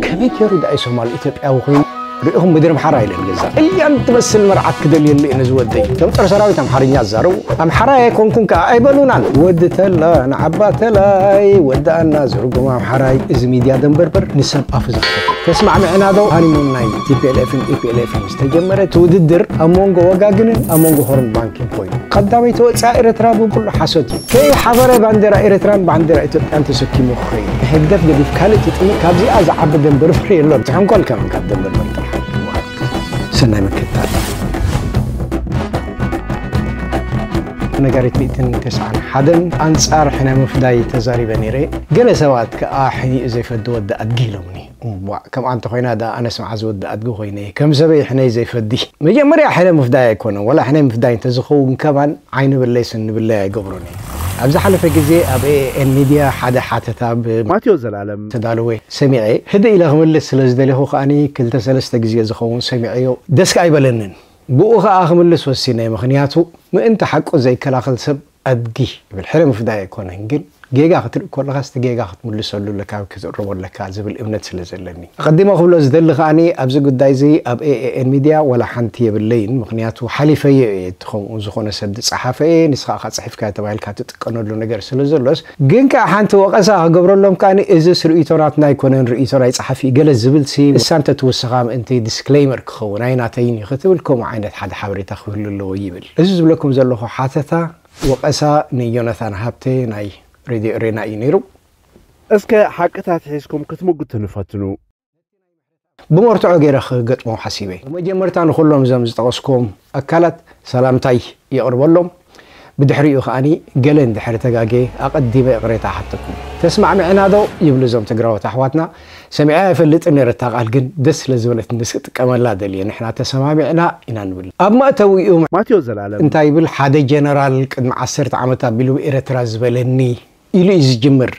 ከመይ ገይሩ ዳኣ ሶማል ኢትዮጵያዊ ኮይኑ ርኢኹም ምድሪ ኣምሓራ ኢለ ገዛ እያን ትመስል መርዓት ክደልየሉ እየ ነዚ ወደይ እቶም ፀረ ሰራዊት ኣምሓርኛ ዝዛረቡ ኣምሓራ ኣይኮንኩን ከዓ ኣይበሉናን ወዲ ተላ ንዓባ ተላይ ወዳኣና ዝርጉም ኣምሓራይ እዚ ሚድያ ደንበርበር ንሰብ ኣፉ ዘኽፈት ተስማዕምዕና ዶ ሃኒሙንና እዩ ቲፒኤልኤፍን ኢፒኤልኤፍን ዝተጀመረ እቲ ውድድር ኣብ መንጎ ወጋግንን ኣብ መንጎ ሆርን ባንክን ኮይኑ ቀዳመይ ተወፃኢ ኤርትራ ብኩሉ ሓሶት እዩ ከይ ሓበረ ባንዴራ ኤርትራን ባንዴራ ኢትዮጵያን ተሰኪሙ ክኸይድ ንህግደፍ ገዲፍ ካልእ ትጥምት ካብዚኣ ዝዓቢ ደንበ ርፍሒ የሎን ትሕንኮል ከመን ካብ ደንበ ርፍሒ ጥራሕ ይወሃብ ሰናይ ምክትታል ነጋሪት ሚእትን ተስዓን ሓደን ኣንጻር ሕነ ምፍዳይ ተዛሪበ ነይረ ገለ ሰባት ከኣ ሕኒኡ ዘይፈዲ ወዲ ኣድጊ ኢሎምኒ እዋእ ከምኣ እንተኾይና ድኣ ኣነስ መዓዝ ወዲ ኣድጊ ኮይነ እየ ከም ሰበይ ሕነይ ዘይፈዲ። መጀመርያ ሕነ ምፍዳይ ኣይኮነን ዋላ ሕነ ምፍዳይ እንተዝኸውን ከማን ዓይኒ ብለይ ስኒ ብለይ ኣይገብሮን እየ። ኣብ ዝሓለፈ ግዜ ኣብ AAN ሚድያ ሓደ ሓተታ ብ ማቴዎስ ዘላለም። ዝተዳለወ ሰሚዐ ህድእ ኢለ ክምልስ ስለ ዝደሌኹ ከኣ ክልተ ሰለስተ ግዜ ዝኸውን ሰሚዐዮ ደስ ኣይበለንን ብኡ ከኣ ክምልስ ወሲነ ምኽንያቱ ምእንቲ ሓቁ ዘይከላኸል ሰብ ኣድጊ ይብል ሕነ ምፍዳይ ኣይኮነን ግን ጌጋ ክትርኢ ኮለኻስ እቲ ጌጋ ክትምልሰሉ ኣለካ ወይ ክትእርሞ ኣለካ ዝብል እምነት ስለ ዘለኒ። ኣቐዲመ ክብሎ ዝደሊ ከኣ ኣብዚ ጉዳይ እዚ ኣብ AAN Media ዋላ ሓንቲ የብለይን ምኽንያቱ ሓሊፈዮ እየ እቲ ከምኡ ዝኾነ ሰብ ዝጸሓፈ እየ ንስኻ እኻ ጽሒፍካዮ ተባሂልካ ትጥቀነሉ ነገር ስለ ዘሎስ ግን ከኣ ሓንቲ ወቐሳ ክገብረሎም ከኣ እዝስ ርእይቶ ናትና ኣይኮነን ርእይቶ ናይ ጸሓፊ እገለ ዝብልሲ ንሳ እንተ ትውስኻ ምእንቲ Disclaimer ክኸውን ኣይናተይን እዩ ክትብል ከምኡ ዓይነት ሓደ ሓበሬታ ክህሉ ኣለዎ ይብል። እዚ ዝብለኩም ዘለኹ ሓተታ ወቐሳ ንዮናታን ሃብተ ናይ ሬድዮ ኤሬና እዩ ነይሩ። እስከ ሓቅታት ሒዝኩም ክትምጉቱኒ ፈትኑ። ብመርትዖ ገይረ ክገጥሞ ሓሲበ። ብመጀመርታ ንኹሎም እዞም ዝጠቐስክዎም ኣካላት ሰላምታይ የቕርበሎም። ብድሕሪኡ ከኣ ገለ እንድሕሪ ተጋግየ ኣቐዲመ እቕሬታ እሓተኩም። ተስማዕሚዕናዶ ይብሉ እዞም ትግራዎት ኣሕዋትና። ሰሚዐያ ኣይፈልጥን ነረ እታ ቃል ግን ደስ ስለ ዝበለትኒ ስክጥቀመላ ደልየ ንሕና ተሰማሚዕና ኢና ንብል ኣብ መእተዊኡ ማቴዎስ ዘላለም። እንታይ ይብል ሓደ ጀነራል ቅድሚ ዓሰርተ ዓመት ኣቢሉ ብ ኤረትራ ዝበለኒ ኢሉ እዩ ዝጅምር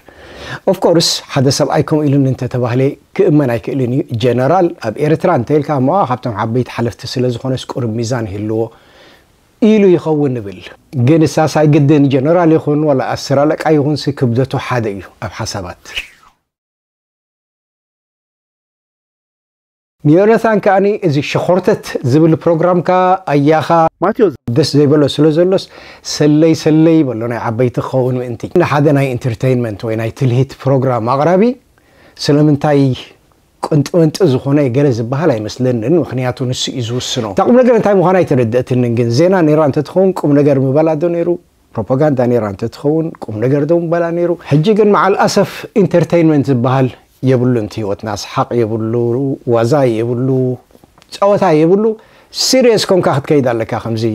of course ሓደ ሰብኣይ ከምኡ ኢሉኒ እንተ ተባህለ ክእመን ኣይክእልን እዩ ጀነራል ኣብ ኤረትራ እንተ ኢልካ እሞ ካብቶም ዓበይቲ ሓለፍቲ ስለ ዝኾነስ ቁሩብ ሚዛን ይህልዎ ኢሉ ይኸውን ንብል። ግንሳስ ኣይግድን ጀነራል ይኹን ዋላ ኣስር ኣለቃ ይኹንሲ ክብደቱ ሓደ እዩ ኣብ ሓሳባት። ንዮነታን ከኣ እዚ ሸኾርተት ዝብል ፕሮግራምካ ኣያኻ ማትዮ ደስ ዘይበሎ ስለ ዘሎስ ሰለይ ሰለይ ይበሎ ናይ ዓበይቲ ክኸውን ምእንቲ። ንሓደ ናይ ኢንተርተይንመንት ወይ ናይ ትልሂት ፕሮግራም ኣቕራቢ ስለምንታይ ቁንጥመንጢ ዝኾነ ገለ ዝበሃል ኣይመስለንን ምኽንያቱ ንሱ እዩ ዝውስኖ። እታ ቁምነገር እንታይ ምዃና ኣይተረደእትንን ግን ዜና ኔራ እንተትኸውን ቁምነገር ምበላ ዶ ኔሩ? ፕሮፓጋንዳ ኔራ እንተትኸውን ቁም ነገር ደው ምበላ ኔሩ ሕጂ ግን መዓል ኣሰፍ ኢንተርተይንመንት ዝበሃል የብሉን እቲ ሂወትና ሰሓቅ የብሉ ዋዛ የብሉ ጸወታ የብሉ ሲርየስ ኮንካ ክትከይድ ኣለካ ከምዚ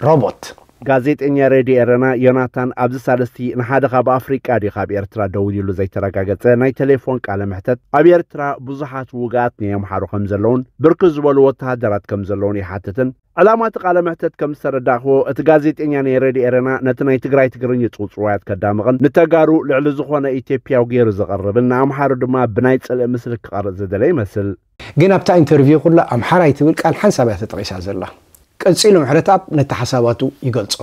ሮቦት። ጋዜጠኛ ሬድዮ ኤረና ዮናታን ኣብዚ ሳልስቲ ንሓደ ካብ ኣፍሪቃ ድዩ ካብ ኤርትራ ደዊሉሉ ዘይተረጋገጸ ናይ ተሌፎን ቃለ መሕተት ኣብ ኤርትራ ብዙሓት ውግኣት ናይ ኣምሓሩ ከምዘለውን ብርክት ዝበሉ ወተሃደራት ከምዘለውን ይሓትትን ዕላማ እቲ ቃለ መሕተት ከም ዝተረዳእክዎ እቲ ጋዜጤኛ ናይ ሬድዮ ኤረና ነቲ ናይ ትግራይ ትግርኚ ጽውጽዋያት ከዳምቕን ንተጋሩ ልዕሊ ዝኾነ ኢትዮጵያዊ ገይሩ ዘቕርብን ንኣምሓሩ ድማ ብናይ ጽልኢ ምስሊ ክቐርጽ ዝደለ ይመስል። ግን ኣብታ ኢንተርቪው ኩላ ኣምሓራይ ትብል ቃል ሓንሳብ እያ ተጠቒሳ ዘላ። ቀጺሉ ምሕረትኣብ ነቲ ሓሳባቱ ይገልጾ።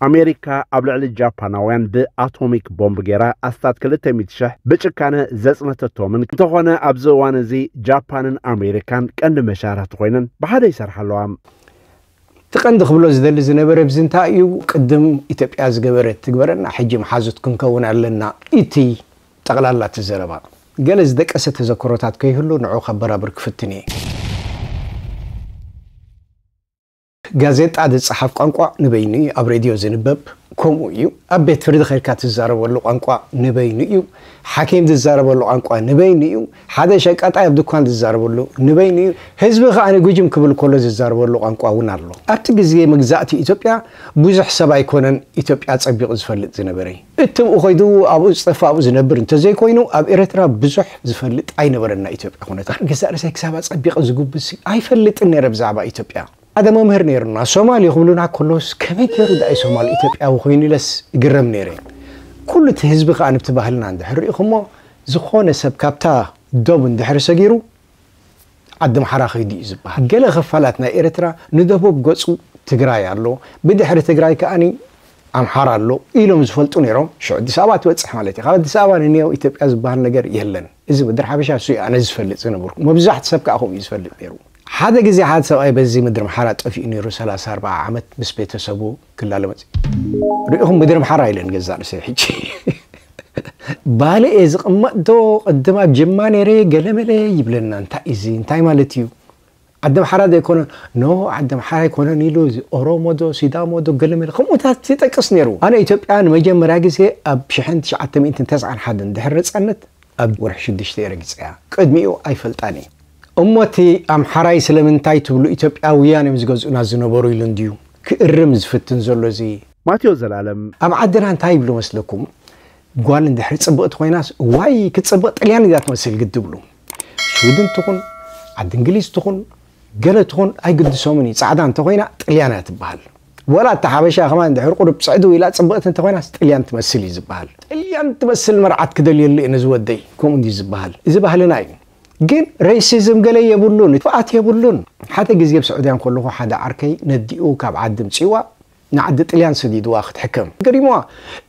ኣሜሪካ ኣብ ልዕሊ ጃፓናውያን ብኣቶሚክ ቦምብ ገይራ ኣስታት ክልተ ሚእቲ ሽሕ ብጭካነ ዘጽነተቶምን እንተኾነ ኣብዚ እዋን እዚ ጃፓንን ኣሜሪካን ቀንዲ መሻርኽቲ ኮይነን ብሓደ ይሰርሓ ኣለዋ። እቲ ቀንዲ ክብሎ ዝደሊ ዝነበረ ብዚ እንታይ እዩ ቅድም ኢትዮጵያ ዝገበረት ትግበረና ሕጂ መሓዙት ክንከውን ኣለና ኢቲ ጠቕላላ እቲ ዘረባ። ገለ ዝደቀሰ ተዘክሮታት ከይህሉ ንዑ ከበራብር ክፍትን እየ። ጋዜጣ ዝጸሓፍ ቋንቋ ንበይኑ እዩ፣ ኣብ ሬድዮ ዝንበብ ከምኡ እዩ፣ ኣብ ቤት ፍርዲ ኬድካ ትዛረበሉ ቋንቋ ንበይኑ እዩ፣ ሓኪም ዝዛረበሉ ቋንቋ ንበይኑ እዩ፣ ሓደ ሸቃጣይ ኣብ ድኳን ዝዛረበሉ ንበይኑ እዩ፣ ህዝቢ ከኣ ግጅም ክብል ከሎ ዝዛረበሉ ቋንቋ እውን ኣሎ። ኣብቲ ግዜ መግዛእቲ ኢትዮጵያ ብዙሕ ሰብ ኣይኮነን ኢትዮጵያ ኣጸቢቑ ዝፈልጥ ዝነበረ። እትብኡ ኮይዱ ኣብኡ ዝጸፍ ኣብኡ ዝነብር እንተዘይኮይኑ ኣብ ኤረትራ ብዙሕ ዝፈልጥ ኣይነበረን ናይ ኢትዮጵያ ኩነታት ንገዛእ ርእሰይ ክሳብ ኣጸቢቀ ዝጉብዝሲ ኣይፈልጥን ነረ ብዛዕባ ኢትዮጵያ ሓደ መምህር ነይሩና ሶማል ክብሉና ከሎስ ከመይ ገሩ ዳኣይ ሶማል ኢትዮጵያዊ ኮይኑ ኢለስ እግረም ነይረ ኩሉ እቲ ህዝቢ ከኣ ንብቲ ባህልና እንድሕር ሪኢኩሞ ዝኮነ ሰብ ካብታ ዶብ እንድሕር ሰጊሩ ዓዲምሓራ ከይዱ እዩ ዝብሃል። ገለ ክፋላት ናይ ኤርትራ ንደቡብ ገጹ ትግራይ ኣሎ፣ ብድሕሪ ትግራይ ከኣ ኣምሓራ ኣሎ ኢሎም ዝፈልጡ ነይሮም። ሽዑ ኣዲስ ኣበባ ትበጽሕ ማለት እዩ። ካብ ኣዲስ ኣበባ ንንየው ኢትዮጵያ ዝብሃል ነገር የለን። እዚ ምድሪ ሓበሻ ንሱ እዩ ኣነ ዝፈልጥ ዝነበርኩ። መብዛሕቱ ሰብ ከኣ ከምኡ እዩ ዝፈልጥ ነይሩ። ሓደ ግዜ ሓደ ሰብኣይ በዚ ምድሪ ኣምሓራ ጠፊኡ ነይሩ ሰላሳ ኣርብዓ ዓመት ምስ ቤተሰቡ። ክላለ መጽዩ ሪኢኹም ምድሪ ኣምሓራ ኢለን ገዛእ ርእሰይ ሕጂ ባልኤ ዝቕመጥ ዶ ቅድም ኣብ ጀማ ነይረ ገለመለ ይብለና እንታይ እዚ እንታይ ማለት እዩ ዓዲ ኣምሓራ ዘይኮነ ኖ ዓዲ ኣምሓራ ኣይኮነን ኢሉ እዚ ኦሮሞ ዶ ሲዳሞ ዶ ገለመለ ከምኡታት ይጠቅስ ነይሩ ኣነ ኢትዮጵያ ንመጀመርያ ግዜ ኣብ 1991 ድሕሪ ነፃነት ኣብ ወርሒ ሽዱሽተ እየ ረጊፀያ ቅድሚኡ ኣይፈልጣን እየ እሞ እቲ ኣምሓራይ ስለምንታይ ትብሉ ኢትዮጵያውያን እዮም ዝገዝኡና ዝነበሩ ኢሉ እንድዩ ክእርም ዝፍትን ዘሎ እዚ። ማቴዎስ ዘላለም። ኣብ ዓድና እንታይ ይብሉ መስለኩም ጓል እንድሕሪ ጽብቅቲ ኮይናስ እዋይ ክትጽብቅ ጥልያን እያ ትመስል ግዲ ይብሉ ሽዊድን ትኹን ዓዲ እንግሊዝ ትኹን ገለ ትኹን ኣይግድሶምን እዩ ጻዕዳ እንተኮይና ጥልያን እያ ትብሃል ወላ እታ ሓበሻ ከማን እንድሕሪ ቁሩብ ጽዕድው ኢላ ጽብቅቲ እንተኮይናስ ጥልያን ትመስል እዩ ዝብሃል ጥልያን ትመስል መርዓት ክደልየሉ እየ ነዚ ወደይ ከምኡ እንድዩ ዝብሃል እዚ ባህልና እዩ። ግን ሬሲዝም ገለ የብሉን ክፍኣት የብሉን ሓደ ግዜ ኣብ ሱዑድያ ከለኩ ሓደ ዓርከይ ነዲኡ ካብ ዓዲ ምጺዋ ንዓዲ ጥልያን ሰዲድዋ ክትሕከም ገሪምዋ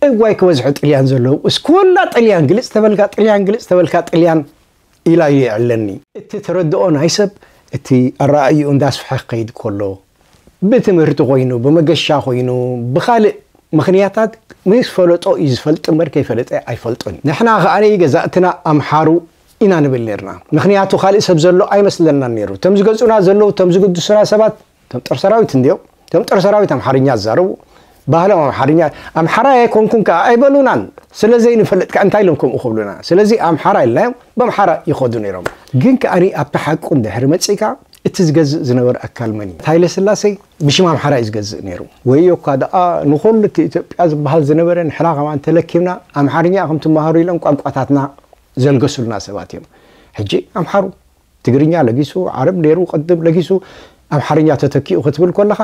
እዋይ ክበዝሑ ጥልያን ዘለዉ እስ ኩላ ጥልያን ግልጽ ተበልካ ጥልያን ግልጽ ተበልካ ጥልያን ኢላ እዩ የዕለኒ እቲ ትረድኦ ናይ ሰብ እቲ ኣራኣይኡ እንዳስፍሐ ክከይድ ኮሎ ብትምህርቲ ኮይኑ ብመገሻ ኮይኑ ብካልእ ምክንያታት ምስ ፈለጦ እዩ ዝፈልጥ እምበር ከይፈለጠ ኣይፈልጥን ንሕና ከኣ ገዛእትና ኣምሓሩ ኢና ንብል ኔርና ምኽንያቱ ካልእ ሰብ ዘሎ ኣይመስለናን ኔሩ እቶም ዝገጹና ዘለዉ እቶም ዝግድሱና ሰባት እቶም ጦር ሰራዊት እንድዮም እቶም ጦር ሰራዊት ኣምሓርኛ ዝዛረቡ ባህሎም ኣምሓርኛ ኣምሓራይ ኣይኮንኩን ከኣ ኣይበሉናን ስለ ዘይንፈልጥ ከ እንታይ ኢሎም ከምኡ ክብሉና ስለዚ ኣምሓራ ኢልናዮም በምሓራ ይኸዱ ኔሮም ግን ከኣ ኣብቲ ሓቁ እንድሕሪ መጺእካ እቲ ዝገዝእ ዝነበረ ኣካል መን እዩ ሃይለ ስላሴ ብሽም ኣምሓራ እዩ ዝገዝእ ነይሩ ወዮ እኳ ደኣ ንኹሉ እቲ ኢትዮጵያ ዝበሃል ዝነበረ ንሕና ከማን ተለኪምና ኣምሓርኛ ከም ትመሃሩ ኢሎም ቋንቋታትና ዘልገሱልና ሰባት እዮም ሕጂ ኣምሓሩ ትግርኛ ለጊሱ ዓረብ ነይሩ ቅድም ለጊሱ ኣምሓርኛ ተተኪኡ ክትብል ኮለኻ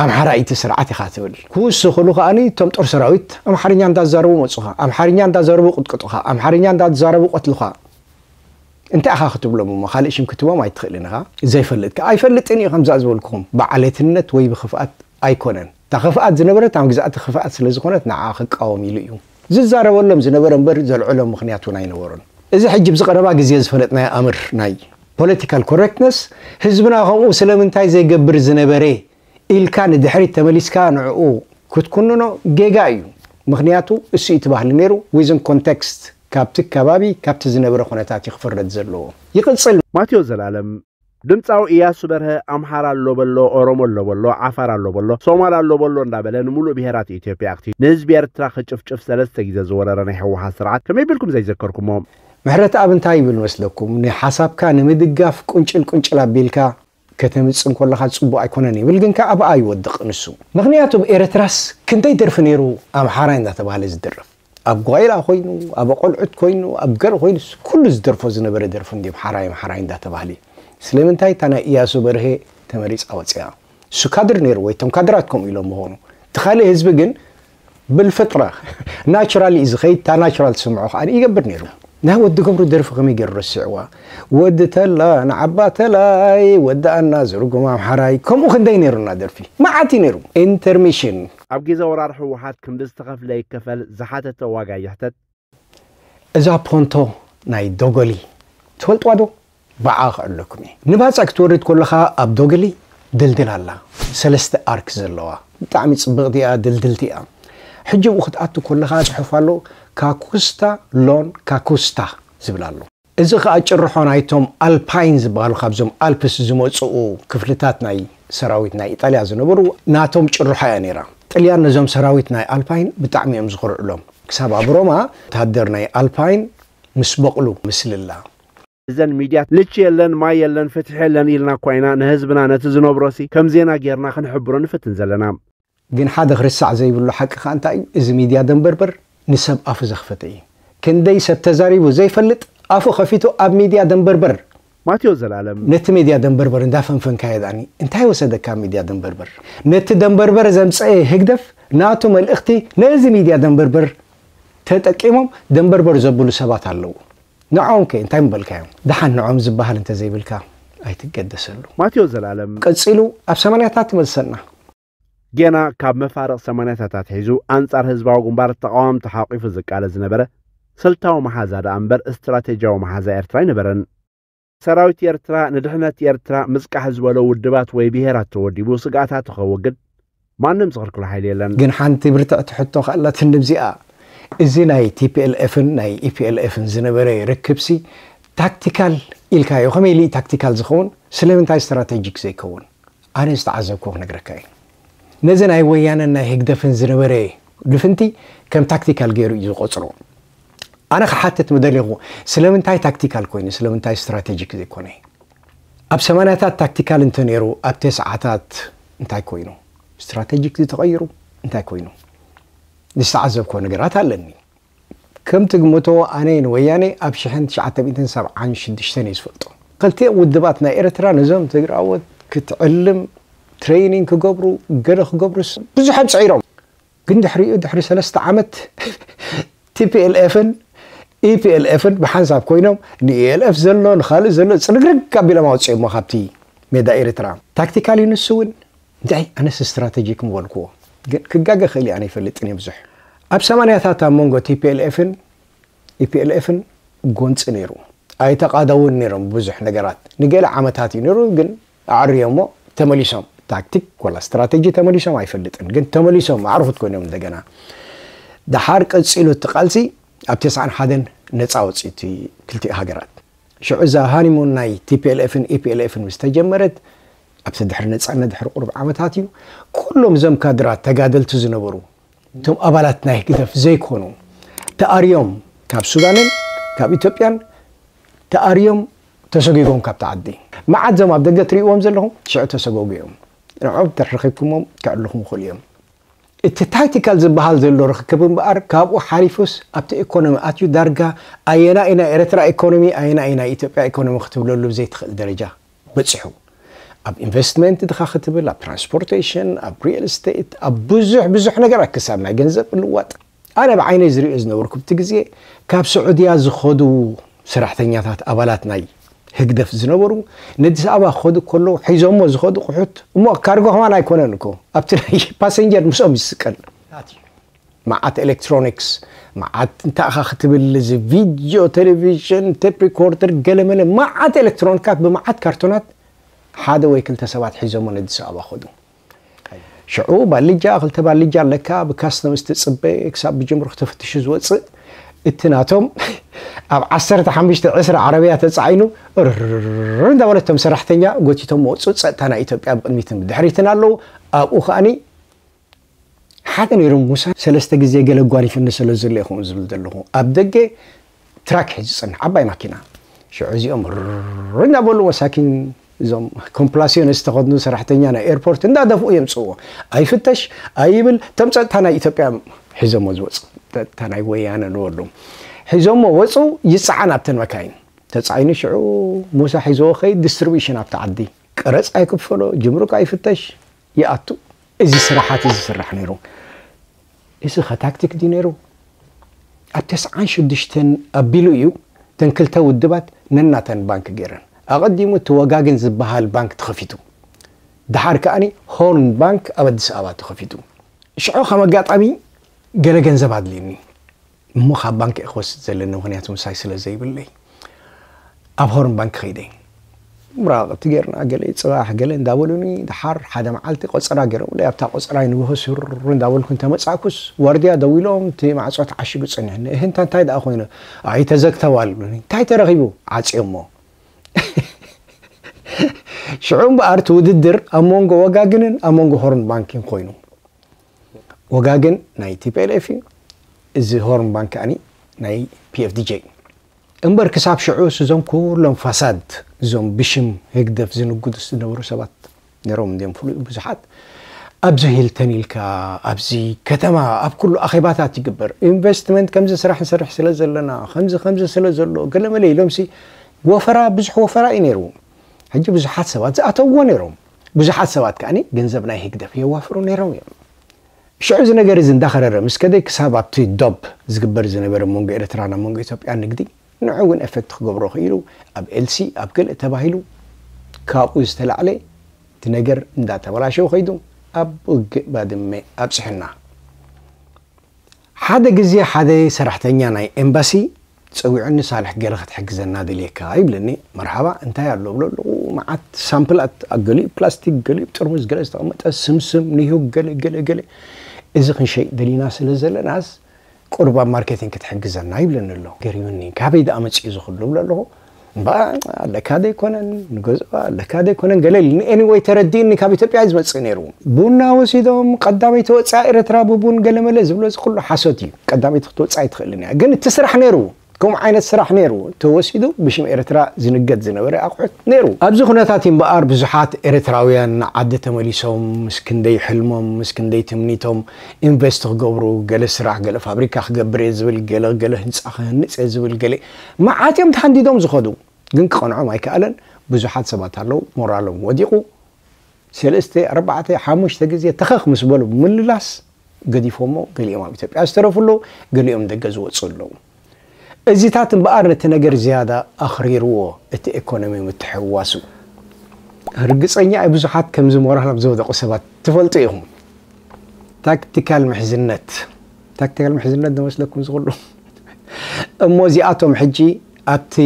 ኣምሓራ ኢቲ ስርዓት ኢኻ ትብል ክውስኽሉ ከኣኒ እቶም ጦር ሰራዊት ኣምሓርኛ እንዳዛረቡ መፁኻ ኣምሓርኛ እንዳዛረቡ ቅጥቅጡኻ ኣምሓርኛ እንዳዛረቡ ቆትልኻ እንታይ ኢኻ ክትብሎም እሞ ካልእ ሽም ክትቦም ኣይትኽእልን ኢኻ ዘይፈልጥ ከ ኣይፈልጥን እዩ ከምዛ ዝበልኩኹም ብዓሌትነት ወይ ብክፍኣት ኣይኮነን እታ ኽፍኣት ዝነበረት ኣብ ግዝኣቲ ኽፍኣት ስለ ዝኾነት ንዓኣ ኽቃወም ኢሉ እዩ ዝዛረበሎም ዝነበረ እምበር ዘልዕሎም ምኽንያት እውን ኣይነበሮን። እዚ ሕጂ ኣብዚ ቐረባ ግዜ ዝፈለጥናዮ ኣምር ናይ Political Correctness ህዝብና ከምኡ ስለምንታይ ዘይገብር ዝነበረ ኢልካ ንድሕሪት ተመሊስካ ንዕኡ ክትኩንኖ ጌጋ እዩ ምኽንያቱ እሱ እዩ እቲ ባህሊ ነይሩ Within Context ካብቲ ከባቢ ካብቲ ዝነበረ ኹነታት እዩ ክፍረድ ዘለዎ። ይቕጽል። ማቴዎስ ዘላለም ድምጻዊ እያሱ በርሀ ኣምሓራ ኣሎ በሎ፣ ኦሮሞ ኣሎ በሎ፣ ዓፋር ኣሎ በሎ፣ ሶማል ኣሎ በሎ እንዳበለ ንሙሉእ ብሄራት ኢትዮጵያ ኣኽቲሉ ንህዝቢ ኤርትራ ክጭፍጭፍ ሰለስተ ግዜ ዝወረረ ናይ ህወሓት ስርዓት ከመይ ቢልኩም ዘይዘከርኩሞ? ምሕረትኣብ እንታይ ይብል መስለኩም ንሓሳብካ ንምድጋፍ ቁንጭል ቁንጭል ኣቢልካ ከተምጽ እንኮለኻ ጽቡቅ ኣይኮነን ይብል ግን ከኣ ኣብኣ ይወድቅ ንሱ። ምኽንያቱ ኣብ ኤረትራስ ክንደይ ደርፊ ኔሩ ኣምሓራይ እንዳተባህለ ዝድረፍ። ኣብ ጓይላ ኮይኑ ኣብ ኣቆልዑት ኮይኑ ኣብ ገር ኮይኑ ኩሉ ዝደርፎ ዝነበረ ደርፊ እንድዩ ኣምሓራይ ኣምሓራይ እንዳ ተባህሊ ስለምንታይ እታ ናይ ኢያሱ በርሀ ተመሪጻ ወጺኣ እሱ ካድር ነይሩ ወይ እቶም ካድራት ከምኡ ኢሎም ምኾኑ እቲ ካልእ ህዝቢ ግን ብልፍጥራ ናቹራል እዩ ዝኸይድ እታ ናቹራል ትስምዖ ከኣ ይገብር ነይሩ ናይ ወዲ ገብሩ ደርፊ ከመይ ገይሩ ረሲዕዋ ወዲ ተላ ንዓባ ተላይ ወዲ ኣና ዝርጉም ኣምሓራይ ከምኡ ክንደይ ነይሩና ደርፊ መዓት እዩ ነይሩ ኢንተርሚሽን ኣብ ጊዘ ወራር ህወሓት ክንዲ ዝተኸፍለ ይከፈል ዝሓተተ ዋጋ ይሕተት። እዛ ፖንቶ ናይ ዶጎሊ ትፈልጥዋ ዶ? ባዓ ክዕለኩም እየ ንባጻ ክትወርድ ኮለኻ ኣብ ዶግሊ ድልድል ኣላ ሰለስተ ኣርክ ዘለዋ ብጣዕሚ ጽብቅቲ እያ ድልድልቲ እያ ሕጂ ኣብኡ ክትኣቱ ኮለኻ ጽሑፍ ኣሎ ካኩስታ ሎን ካኩስታ ዝብል ኣሎ እዚ ከኣ ጭርሖ ናይቶም ኣልፓይን ዝበሃሉ ካብዞም ኣልፕስ ዝመጽኡ ክፍልታት ናይ ሰራዊት ናይ ኢጣልያ ዝነበሩ ናቶም ጭርሖ እያ ነይራ። ጥልያን ነዞም ሰራዊት ናይ ኣልፓይን ብጣዕሚ እዮም ዝኹርዕሎም። ክሳብ ኣብ ሮማ ወተሃደር ናይ ኣልፓይን ምስ በቕሉ ምስልላ። እዘን ሚድያት ልቺ የለን ማይ የለን ፍትሒ የለን ኢልና እኳ ኢና ንህዝብና ነቲ ዝነብሮሲ ከም ዜና ጌርና ክንሕብሮ ንፍትን ዘለና። ግን ሓደ ክርሳዕ ዘይብሉ ሓቂ ከኣ እንታይ እዩ እዚ ሚድያ ደንበርበር ንሰብ ኣፉ ዘኽፈተ እዩ ክንደይ ሰብ ተዛሪቡ ዘይፈልጥ ኣፉ ከፊቱ ኣብ ሚድያ ደንበርበር። ማቴዎስ ዘላለም። ነቲ ሚድያ ደንበርበር እንዳፈንፈንካዮ ድኣኒ እንታይ ወሰደካ ኣብ ሚድያ ደንበርበር ነቲ ደንበርበር ዘምጸኤ ህግደፍ ናቱ መልእኽቲ ነዚ ሚድያ ደንበርበር ተጠቂሞም ደንበርበር ዘብሉ ሰባት ኣለዉ። ንዖም ከ እንታይ ምበልካዮም? ደሓን ንዖም ዝበሃል እንተዘይብልካ ኣይትገደሰሉ። ማቴዎስ ዘላለም። ቀጺሉ ኣብ ሰማንያታት ይመልሰና። ጌና ካብ መፋርቕ ሰማንያታት ኣትሒዙ ኣንጻር ህዝባዊ ግንባር ተቓወምቲ ሓቊፉ ዝቃለስ ዝነበረ ስልታዊ መሓዛ ደኣ እምበር ስትራቴጂያዊ መሓዛ ኤርትራ ኣይነበረን። ሰራዊት ኤርትራ ንድሕነት ኤርትራ ምጽቃሕ ዝበሎ ውድባት ወይ ብሄራት ተወዲቡ ስግኣታቱ ከወግድ ማንም ዝኽልክሎ ሓይሊ የለን። ግን ሓንቲ ብርትዕቲ ሕቶ ከኣ ኣላትኒ ኣብዚኣ። እዚ ናይ TPLF ን ናይ EPLF ን ዝነበረ ርክብሲ ታክቲካል ኢልካዮ ከመይ ኢሉ'ዩ ታክቲካል ዝኸውን ስለምንታይ ስትራተጂክ ዘይከውን? ኣነ ዝተዓዘብክዎ ክነግረካ እየ። ነዚ ናይ ወያነን ናይ ህግደፍን ዝነበረ ልፍንቲ ከም ታክቲካል ገይሩ እዩ ዝቖጽሮ። ኣነ ክሓትት ምደሌኹ ስለምንታይ ታክቲካል ኮይኑ ስለምንታይ ስትራቴጂክ ዘይኮነ ኣብ ሰማንያታት ታክቲካል እንተነይሩ ኣብ ተስዓታት እንታይ ኮይኑ ስትራቴጂክ ተቐይሩ እንታይ ኮይኑ ዝተዓዘብኮ ነገራት ኣለኒ ከም ትግምቶ ኣነ ንወያኔ ኣብ ሽሕን ትሽዓተ ሚእትን ሰብዓን ሽዱሽተን እየ ዝፈልጦ ክልቲኦም ውድባት ናይ ኤርትራ ነዞም ትግራዎት ክትዕልም ትሬይኒንግ ክገብሩ ገለ ክገብሩስ ብዙሕ ኣጽዒሮም ግን ድሕሪኡ ድሕሪ ሰለስተ ዓመት ቲፒኤልኤፍን ኢፒኤልኤፍን ብሓንሳብ ኮይኖም ንኢኤልኤፍ ዘሎ ንኻልእ ዘሎ ጽርግርግ ኣቢሎም ኣውጺኦሞ ካብቲ ሜዳ ኤርትራ። ታክቲካል እዩ ንሱ እውን እንታይ ኣነስ ስትራተጂክ ምበልክዎ ግን ክጋገ እኽእል እየ ኣነ ኣይፈልጥን እየ ብዙሕ ኣብ ሰማንያታት ኣብ መንጎ ቲፒኤልኤፍን ኢፒኤልኤፍን ጎንጺ ነይሩ ኣይተቓደውን ነይሮም ብዙሕ ነገራት ንገለ ዓመታት እዩ ነይሩ ግን ኣዐርዮሞ ተመሊሶም ታክቲክ ወላ ስትራተጂ ተመሊሶም ኣይፈልጥን ግን ተመሊሶም ኣዕርኹ ኮይኖም እንደገና ደሓር ቀጺሉ እቲ ቃልሲ ኣብ ተስዓን ሓደን ነጻ ወጽዩ እቲ ክልቲኡ ሃገራት ሽዑ እዛ ሃኒሙን ናይ ቲፒኤልኤፍን ኢፒኤልኤፍን ምስ ተጀመረት ኣብቲ ድሕሪ ነጻነት ድሕሪ ቁሩብ ዓመታት እዩ ኩሎም እዞም ካድራት ተጋደልቲ ዝነበሩ እቶም ኣባላት ናይ ህግደፍ ዘይኮኑ ተኣርዮም ካብ ሱዳንን ካብ ኢትዮጵያን ተኣርዮም ተሰጉጎም ካብቲ ዓዲ። መዓት እዞም ኣብ ደገ ትርእይዎም ዘለኹም ሽዑ ተሰጎጉ እዮም። ንዕኦም እንተ ረኺብኩሞም ከዕልኹም ይኽእሉ እዮም። እቲ ታክቲካል ዝበሃል ዘሎ ርኽክብ እምበኣር ካብኡ ሓሊፉስ ኣብቲ ኢኮኖሚ ኣትዩ ዳርጋ ኣየናይ እዩ ናይ ኤርትራ ኢኮኖሚ ኣየናይ እዩ ናይ ኢትዮጵያ ኢኮኖሚ ክትብለሉ ዘይትኽእል ደረጃ በጺሑ ኣብ ኢንቨስትመንት ድኻ ክትብል ኣብ ትራንስፖርቴሽን ኣብ ሪል ስቴት ኣብ ብዙሕ ብዙሕ ነገራት ክሳብ ናይ ገንዘብ ምልዋጥ ኣነ ብዓይነይ ዝሪኦ ዝነበርኩብቲ ግዜ ካብ ስዑድያ ዝኸዱ ሰራሕተኛታት ኣባላት ናይ ህግደፍ ዝነበሩ ነዲስ ኣበባ ክኸዱ ከለዉ ሒዞሞ ዝኸዱ ቁሑት እሞ ካርጎ ከማን ኣይኮነን እኮ ኣብቲ ናይ ፓሰንጀር ምስኦም ዝስቀል ኣትዩ። መዓት ኤሌክትሮኒክስ መዓት እንታይ ኢኻ ክትብል እዚ ቪድዮ ቴሌቪዥን ቴፕ ሪኮርደር ገለመለ መዓት ኤሌክትሮኒካት ብመዓት ካርቶናት ሓደ ወይ ክልተ ሰባት ሒዞሞ ነዲስ ኣበባ ከዱ ሽዑ ባልጃ ክልተ ባልጃ ኣለካ ብካስተምስ ትፅበ ክሳብ ብጅምሩክ ተፈትሹ ዝወፅእ እቲ ናቶም ኣብ ዓሰርተ ሓሙሽተ ዕስራ ዓረብያ ተፃዒኑ ርር እንዳበለቶም ሰራሕተኛ ጎቲቶም መወፁ ፀጥታ ናይ ኢትዮጵያ ብቅድሚትን ብድሕሪትን ኣለዉ ኣብኡ ከዓኒ ሓደ ነይሩ ሙሳ ሰለስተ ግዜ ገለ ኣጓኒፉኒ ስለ ዘሎ እየ ከምኡ ዝብል ዘለኹ ኣብ ደገ ትራክ ሒዙ ዝጸንሕ ዓባይ ማኪና ሽዑ እዚኦም ርርር እንዳበሉ መሳኪን እዞም ኮምፕላሲዮን ዝተኸድኑ ሰራሕተኛ ናይ ኤርፖርት እንዳደፍኡ የምጽእዎ ኣይፍተሽ ኣይብል እቶም ጸጥታ ናይ ኢትዮጵያ ሒዞሞ ዝወጹ ጸጥታ ናይ ወያነ ንበሉ ሒዞሞ ወጹ ይጸዓን ኣብተን መካይን ተጻዒኑ ሽዑ ሙሳ ሒዞዎ ከይድ ዲስትሪቢሽን ኣብቲ ዓዲ ቀረጽ ኣይክፈሎ ጅምሩክ ኣይፍተሽ ይኣቱ እዚ ስራሓት እዚ ዝስራሕ ነይሩ እዚ ከ ታክቲክ ድዩ ነይሩ ኣብ ተስዓን ሽዱሽተን ኣቢሉ እዩ እተን ክልተ ውድባት ነናተን ባንክ ገይረን ኣቐዲሙ እቲ ወጋገን ዝብሃል ባንክ ተኸፊቱ ድሓር ከኣ ሆርን ባንክ ኣብ ኣዲስ ኣበባ ተኸፊቱ ሽዑ ከም ኣጋጣሚ ገለ ገንዘብ ኣድልዩኒ እሞ ካብ ባንኪ እየ ክወስድ ዘለኒ ምክንያቱ ምሳይ ስለ ዘይብለይ ኣብ ሆርን ባንኪ ከይደ ምራቕቲ ጌርና ገለ ፅባሕ ገለ እንዳበሉኒ ድሓር ሓደ መዓልቲ ቆፀራ ገይሮምለይ ኣብታ ቆፀራይ ንግሆ ሱር እንዳበልኩ እንተመፃእኩስ ዋርድያ ደው ኢሎም እቲ ማዕፆ ተዓሽጉ ፀኒሑኒ እህ እንታ እንታይ ደኣ ኮይኑ ኣይ ተዘግተዋል ብሉኒ እንታይ ተረኺቡ ዓፅዮሞ ሽዑ እምበኣር እቲ ውድድር ኣብ መንጎ ወጋግንን ኣብ መንጎ ሆርን ባንኪን ኮይኑ ወጋገን ናይ tplf እዩ እዚ ሆርን ባንክ ከኣኒ ናይ pfdj እዩ እምበር ክሳብ ሽዑ ስዞም ኩሎም ፋሳድ እዞም ብሽም ህግደፍ ዝንግዱ ዝነበሩ ሰባት ነሮም እንዲዮም ፍሉጥ ብዙሓት ኣብዚ ሂልተን ኢልካ ኣብዚ ከተማ ኣብ ኩሉ ኣኼባታት ይግበር ኢንቨስትመንት ከምዚ ስራሕ ንሰርሕ ስለ ዘለና ከምዚ ከምዚ ስለ ዘሎ ገለመለ ኢሎምሲ ወፈራ ብዙሕ ወፈራ እዩ ነይሩ ሕጂ ብዙሓት ሰባት ዝኣተውዎ ነይሮም ብዙሓት ሰባት ከኣ ገንዘብ ናይ ህግደፍ የዋፍሩ ነይሮም እዮም። ሽዑ እዚ ነገር እዚ እንዳኸረረ ምስ ከደ ክሳብ ኣብቲ ዶብ ዝግበር ዝነበረ መንጎ ኤርትራን ኣብ መንጎ ኢትዮጵያን ንግዲ ንዑ እውን ኤፈክት ክገብሮ ክኢሉ ኣብ ኤልሲ ኣብ ገለ ተባሂሉ ካብኡ ዝተላዕለ እቲ ነገር እንዳተበላሸወ ከይዱ ኣብ ውግእ ባድመ ኣብጽሑና። ሓደ ግዜ ሓደ ሰራሕተኛ ናይ ኤምባሲ ጸዊዑኒ ሳልሕ ገለ ክትሕግዘና ደልየካ ይብለኒ መርሓባ እንታይ ኣሎ እብሎ ኣለኹ መዓት ሳምፕላት ኣብ ገሊኡ ፕላስቲክ ገሊኡ ጥርሙዝ ገለ ዝተቐመጠ ስምስም ኒሁግ ገለ ገለ ገለ እዚ ክንሸይጥ ደሊና ስለ ዘለናስ ቁሩብ ኣብ ማርኬቲንግ ክትሕግዘና ይብለኒ ኣሎ ገሪሙኒ ካበይ ደኣ መጺኡ እዚ ኩሉ እብሎ ኣለኹ እምበኣር ኣለካ ዘይኮነን ንገዝኦ ኣለካ ዘይኮነን ገለ ኢሉኒ ኤኒወይ ተረዲእኒ ካብ ኢትዮጵያ እዩ ዝመጽእ ነይሩ ቡና ወሲዶም ቀዳመይቲ ወጻኢ ኤርትራ ብቡን ገለመለ ዝብሎ እዚ ኩሉ ሓሶት እዩ ቀዳመይቲ ክትወጽእ ኣይትኽእልን እያ ግን እቲ ስራሕ ነይሩ ከምኡ ዓይነት ስራሕ ነይሩ ተወሲዱ ብሽም ኤርትራ ዝንገድ ዝነበረ ኣቑሑት ነይሩ ኣብዚ ኩነታት እዩ እምበኣር ብዙሓት ኤርትራውያን ንዓዲ ተመሊሶም ምስ ክንደይ ሕልሞም ምስ ክንደይ ትምኒቶም ኢንቨስት ክገብሩ ገለ ስራሕ ገለ ፋብሪካ ክገብር እየ ዝብል ገለ ገለ ህንጻ ክህንጽ እየ ዝብል ገለ መዓት እዮም ተሃንዲዶም ዝኸዱ ግን ክቐንዖም ኣይከኣለን ብዙሓት ሰባት ኣለዉ ሞራሎም ወዲቑ ሰለስተ ኣርባዕተ ሓሙሽተ ግዜ ተኸኽ ምስ በሉ ብምልላስ ገዲፎሞ ገሊኦም ኣብ ኢትዮጵያ ዝተረፉ ኣለዉ ገሊኦም ደገ ዝወፁ ኣለዉ እዚታት እምበኣር ነቲ ነገር ዝያዳ ኣኽሪርዎ እቲ ኤኮኖሚ ምትሕውዋሱ ርግፀኛ እየ ብዙሓት ከምዚ ሞራሎም ዝወደቑ ሰባት ትፈልጡ ኢኹም ታክቲካል ምሕዝነት ታክቲካል ምሕዝነት ዶ መስለኩም እዚ ኩሉ እሞ እዚኣቶም ሕጂ ኣብቲ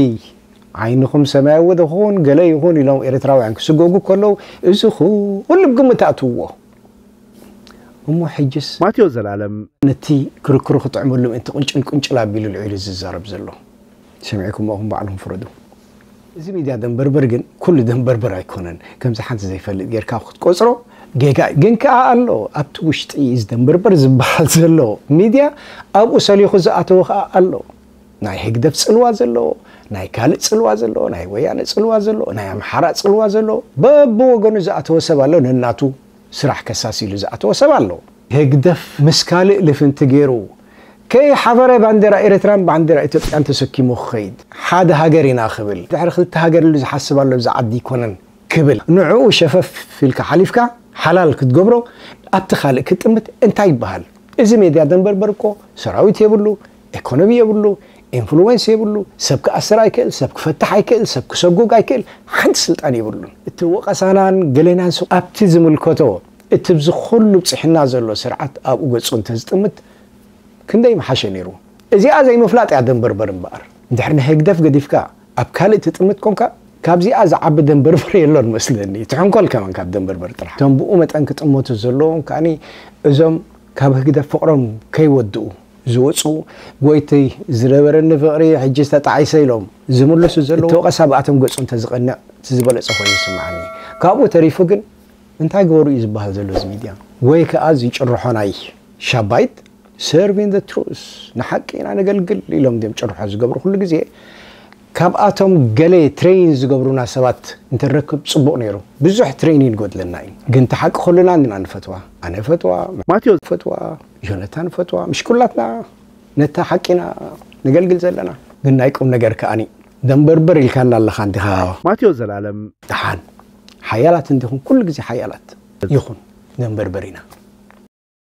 ዓይንኹም ሰማያዊ ዶ ክኹን ገለ ይኹን ኢሎም ኤርትራውያን ክስጎጉ ከለዉ እዚ ኩሉ ብ ግምት ኣእትውዎ እሞ ሕጅስ ማቴዎስ ዘላለም። ነቲ ክርክሩ ክጥዕመሉ ምእንቲ ቁንጭል ቁንጭል ኣቢሉ ኣልዒሉ ዝዛረብ ዘሎ። ሰሚዕኩሞ ኢኹም ባዕልኹም ፍረዱ። እዚ ሚድያ ደንበርበር ግን ኩሉ ደንበርበር ኣይኮነን ከምዚ ሓንቲ ዘይፈልጥ ጌርካ ክትቆጽሮ ጌጋ እዩ ግን ከኣ ኣሎ ኣብቲ ውሽጢ እዚ ደንበርበር ዝበሃል ዘሎ ሚድያ ኣብኡ ሰሊኹ ዝኣተወ ከኣ ኣሎ ናይ ህግደፍ ጽልዋ ዘለዎ ናይ ካልእ ጽልዋ ዘለዎ ናይ ወያነ ጽልዋ ዘለዎ ናይ ኣምሓራ ጽልዋ ዘለዎ በብወገኑ ዝኣተወ ሰብ ኣሎ ነናቱ ስራሕ ከሳሲ ኢሉ ዝኣተወ ሰብ ኣሎ ህግደፍ ምስ ካልእ ልፍንቲ ጌሩ ከይሓበረ ባንዴራ ኤርትራን ባንዴራ ኢትዮጵያን ተሰኪሙ ክኸይድ ሓደ ሃገር ኢና ክብል ድሕሪ ክልተ ሃገር ኢሉ ዝሓስብ ኣሎ እዚ ዓዲ ኣይኮነን ክብል ንዕኡ ሸፈፍ ኢልካ ሓሊፍካ ሓላል ክትገብሮ ኣብቲ ካልእ ክትጥምት እንታይ ይበሃል እዚ ሜድያ ደንበርበር እኮ ሰራዊት የብሉ ኤኮኖሚ የብሉ ኢንፍሉዌንስ የብሉ ሰብ ክኣስር ኣይክእል ሰብ ክፈትሕ ኣይክእል ሰብ ክሰጉግ ኣይክእል ሓንቲ ስልጣን የብሉን እቲ ወቐሳናን ገሌናን ኣብቲ ዝምልከቶ እቲ ብዚ ኩሉ ብጺሕና ዘሎ ስርዓት ኣብኡ ገጹ እንተ ዝጥምት ክንደይ ምሓሸ ነይሩ። እዚኣ ዘይምፍላጥ እያ ደንበርበር እምበኣር። እንድሕር ንህግደፍ ገዲፍካ ኣብ ካልእ ትጥምት ኮንካ ካብዚኣ ዝዓቢ ደንበርበር የሎን መስለኒ። ትሕንኮል ከማን ካብ ደንበርበር ጥራሕ። እቶም ብኡ መጠን ክጥመቱ ዘለዎም ከኣ እዞም ካብ ህግደፍ ፍቕሮም ከይወድኡ ዝወጹ ጎይትይ ዝነበረኒ ፍቕሪ ሕጂ ተጣዒሰ ኢሎም ዝምልሱ ዘለዉ። እቲ ወቐሳ ብኣቶም ገጹ እንተ ዝቐንዕ እቲ ዝበለጸ ኮይኑ ይስምዓኒ። ካብኡ ተሪፉ ግን እንታይ ገበሩ እዩ ዝባሃል ዘሎ እዚ ሚድያ ወይ ከኣ እዚ ጭርሖ ናይ ሻብ ባይት Serving the truth ንሓቂ ኢና ነገልግል ኢሎም ድዮም ጭርሖ ዝገብሩ ኩሉ ግዜ ካብኣቶም ገለ ትሬይን ዝገብሩና ሰባት እንተንረክብ ጽቡቅ ነይሩ ብዙሕ ትሬይን ይጎድለና እዩ ግን እቲ ሓቂ ኩልና እንና ንፈትዋ ኣነ እፈትዋ ማቴዎስ ይፈትዋ ዮነታን ይፈትዋ ምሽ ኩላትና ነታ ሓቂ ኢና ነገልግል ዘለና ግን ናይ ቁም ነገር ከኣኒ ደንበርበር ኢልካና ኣለኻ እንዲኻ። ማቴዎስ ዘላለም። ደሓን። ሓያላት እንዲኹም ኩሉ ግዜ ሓያላት። ይኹን ነንበርበሪና።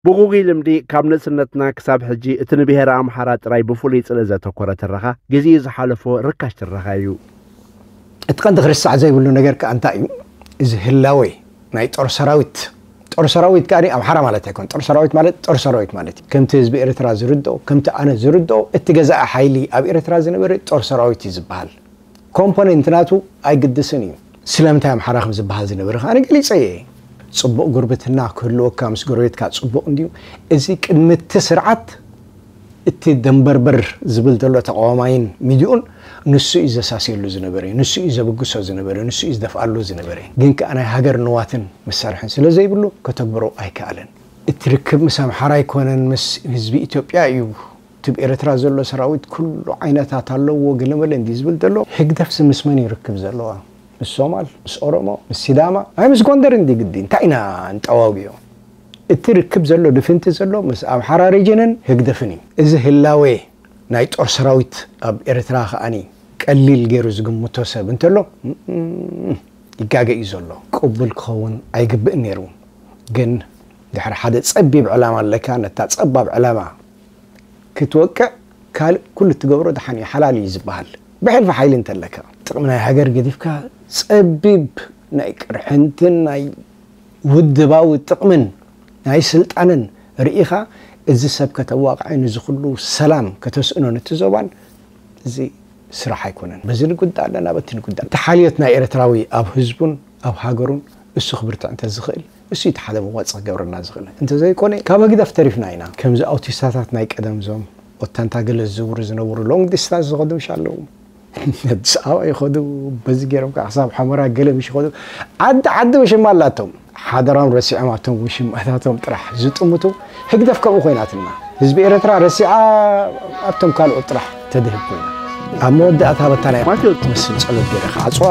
ብጉጉይ ልምዲ ካብ ንእስነትና ክሳብ ሕጂ እቲ ንብሄረ ኣምሓራ ጥራይ ብፍሉይ ጽልኢ ዘተኮረ ትረኻ ግዜኡ ዝሓለፎ ርካሽ ትረኻ ኢዩ። እቲ ቀንዲ ክርሳዕ ዘይብሉ ነገር ከኣ እንታይ ኢዩ እዚ ህላዌ ናይ ጦር ሰራዊት ጦር ሰራዊት ከኣ ኣምሓራ ማለት ኣይኮነን ጦር ሰራዊት ማለት ጦር ሰራዊት ማለት ኢዩ ከምቲ ህዝቢ ኤርትራ ዝርድኦ ከምቲ ኣነ ዝርድኦ እቲ ገዛኢ ሓይሊ ኣብ ኤርትራ ዝነበረ ጦር ሰራዊት ኢዩ ዝበሃል ኮምፖነንት ናቱ ኣይግድስን እዩ። ስለምንታይ ኣምሓራ ከም ዝበሃል ዝነበረ ከኣ ገሊጸ እየ። ጽቡቕ ጉርብትና ክህልወካ ምስ ጎረቤትካ ጽቡቕ እንድዩ። እዚ ቅድሚ እቲ ስርዓት እቲ ደንበርበር ዝብል ዘሎ ተቓዋማይን ሚድኡን ንሱ እዩ ዘሳስየሉ ዝነበረ፣ ንሱ እዩ ዘብግሶ ዝነበረ፣ ንሱ እዩ ዝደፍኣሉ ዝነበረ። ግን ከኣ ናይ ሃገር ንዋትን መሳርሕን ስለ ዘይብሉ ከተግብሮ ኣይከኣለን። እቲ ርክብ ምስ ኣምሓራ ኣይኮነን ምስ ህዝቢ ኢትዮጵያ እዩ ትብ ኤረትራ ዘሎ ሰራዊት ኩሉ ዓይነታት ኣለውዎ ገለመለ እንድዩ ዝብል ዘሎ ህግደፍሲ ምስ መን እዩ ርክብ ዘለዋ ምስ ሶማል ምስ ኦሮሞ ምስ ሲዳማ ኣይ ምስ ጎንደር እንድዩ ግዲ እንታይ ኢና ንጠዋውዮ እቲ ርክብ ዘሎ ድፍንቲ ዘሎ ምስ ኣምሓራ ሪጅንን ህግደፍን እዩ እዚ ህላዌ ናይ ጦር ሰራዊት ኣብ ኤረትራ ከኣ ቀሊል ገሩ ዝግምቶ ሰብ እንተሎ ይጋገ እዩ ዘሎ። ቅቡል ክኸውን ኣይግብእን ነይሩ ግን ድሕሪ ሓደ ጸቢብ ዕላማ ኣለካ ነታ ጸባብ ዕላማ። ክትወቅዕ ካልእ ኩሉ እትገብሮ ደሓን እዩ ሓላል እዩ ዝበሃል ብሕልፊ ሓይሊ እንተለካ። ጥቕሚ ናይ ሃገር ገዲፍካ ጸቢብ ናይ ቅርሕንትን ናይ ውድባዊ ጥቕምን ናይ ስልጣንን ርኢኻ እዚ ሰብ ከተዋቕዕን እዚ ኩሉ ሰላም ከተስእኖን እቲ ዞባን እዚ ስራሕ ኣይኮነን በዚ ንጉዳእ ኣለና በቲ ንጉዳእ። እቲ ሓልዮት ናይ ኤርትራዊ ኣብ ህዝቡን ኣብ ሃገሩን እሱ ክብርትዕ እንተዝኽእል እሱ'ዩ እቲ ሓደ መዋጽእ ክገብረልና ዝኽእል። እንተዘይኮነ ካብ ህግደፍ ተሪፍና ኢና። ከምዚ ኣውቲስታታት ናይ ቀደም እዞም ኦታንታ ገለ ዝዝውሩ ዝነበሩ ሎንግ ዲስታንስ ዝኸዱ ምሽ ኣለዉ። ኣዲስ ኣበባ ይኸዱ በዚ ጌሮም ከኣ ክሳብ ሑመራ ገለ ምሽ ይኸዱ። ዓዲ ዓዲ ውሽማ ኣላቶም። ሓደራም ረሲዖም ኣብቶም ውሽማታቶም ጥራሕ ዝጥምቱ። ህግደፍ ከምኡ ኮይናትና ህዝቢ ኤረትራ ረሲዓ ኣብቶም ካልኦት ጥራሕ ተድህብ ኮይና ኣብ መወዳእታ ኣበታ ናይ ማቴዎስ ትመስል ጸሎት ገይረ ክዓጽዋ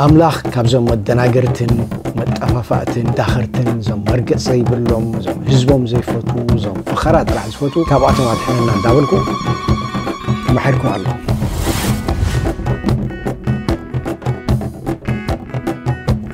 ኣምላኽ ካብዞም መደናገርትን መጠፋፋእትን ዳኸርትን እዞም መርገጽ ዘይብሎም እዞም ህዝቦም ዘይፈትዉ እዞም ፈኸራ ጥራሕ ዝፈትዉ ካብኣቶም ኣድሕነና እንዳበልኩ መሐርኩም ኣለኹ